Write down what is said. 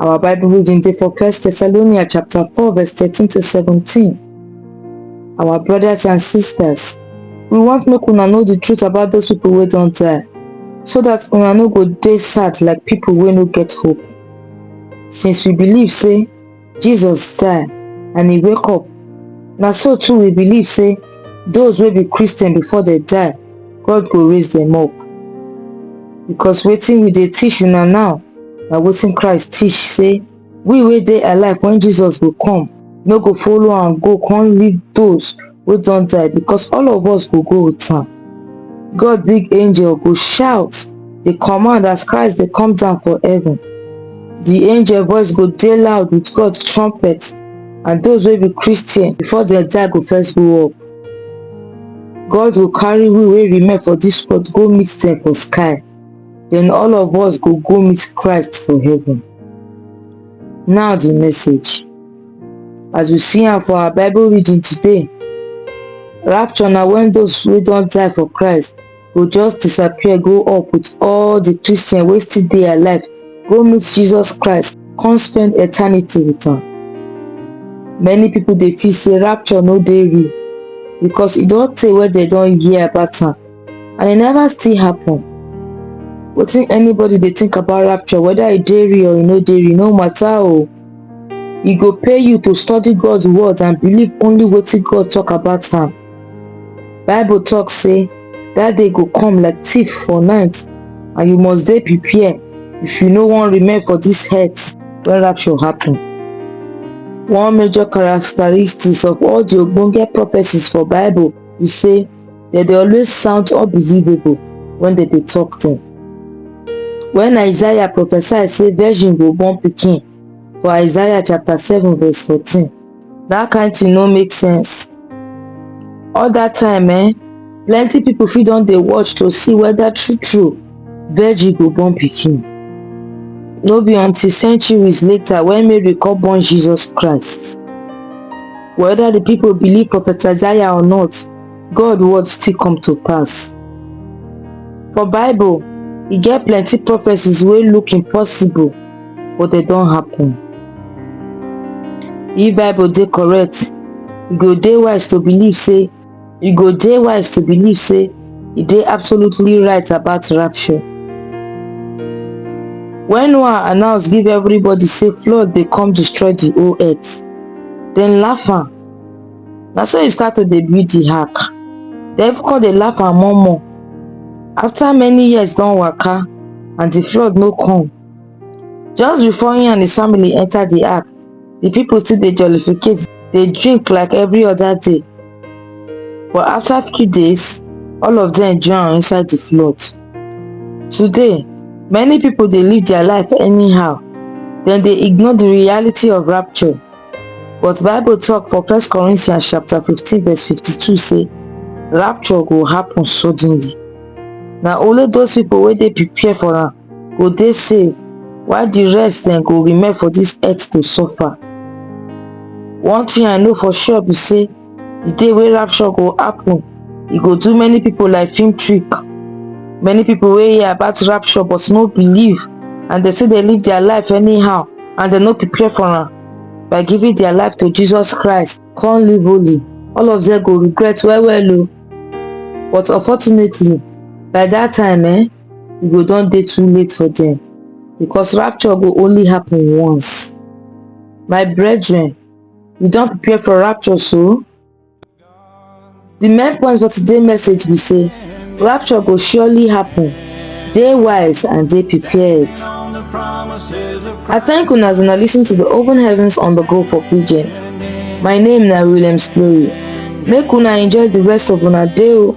Our Bible reading dey for 1 Thessalonians chapter 4 verse 13 to 17. Our brothers and sisters, we want make una know the truth about those people wey don die, so that una no go dey sad like people wey no get hope. Since we believe say Jesus die and he wake up. Na so too we believe say those wey be Christian before they die, God go raise them up. Because wetin we dey teach una now na wetin Christ teach say we wey dey alive when Jesus go come no go follow am go come lead those wey don die because all of us go go with am. God big angel go shout dey command as Christ dey come down for heaven. The angel voice go dey loud with God trumpet and those wey be Christian before dem die go first go up. God go carry we wey remain for this world go meet them for sky. Then all of us go go meet Christ for heaven. Now the message. As we see am for our Bible reading today, rapture na when those wey don die for Christ go just disappear go up with all the Christians wey still dey alive go meet Jesus Christ come spend eternity with am. Many people dey feel say rapture no dey real because e don tey wey dem don hear about am and e never still happen. Wetin anybody dey think about rapture whether e dey real or e no dey real no matter o. e go pay you to study god's word and believe only wetin god talk about am bible talk say that day go come like thief for night and you must dey prepared if you no wan remain for this earth when rapture happen one major characteristics of all the ogbonge prophecies for bible be say dem dey always sound unbelievable when dem dey talk them. When Isaiah prophesy say virgin go born pikin for Isaiah chapter 7 verse 14, that kind thing no make sense. All that time eh, plenty people fit don dey watch to see whether true true Virgil go born pikin. No be until centuries later when Mary come born Jesus Christ. Whether the people believe Prophet Isaiah or not, God word still come to pass. For Bible, e get plenty prophecies wey look impossible but dem don happen. If Bible dey correct, e go dey wise to believe say You go dey wise to believe say e dey absolutely right about rapture. When Noah announce give everybody say flood dey come destroy the whole earth, dem laugh am. Na so e start to dey build the ark. Dem come dey laugh am more more. After many years don waka and the flood no come, just before him and his family enter the app the people still dey jollificate dey drink like every other day but after few days all of them drown inside the flood today many people dey live their life anyhow dem dey ignore the reality of rapture but bible talk for first corinthians chapter 15 verse 52 say rapture go happen suddenly na only those people wey dey prepare for am go dey safe while di rest dem go remain for dis earth to suffer one thing i know for sure be say di day wey rapture go happen e go do many pipo like film trick many pipo wey hear about rapture but no believe and dem say dem live dia life anyhow and dem no prepare for am by giving dia life to jesus christ come live holy all of dem go regret well well o but unfortunately by dat time eh e go don dey too late for dem because rapture go only happen once my brethren we don prepare for rapture so the main point for today's message be say rapture go surely happen dey wise and dey prepared i thank una as una listen to the open heavens on the go for pidgin my name na williams glory make una enjoy the rest of una day o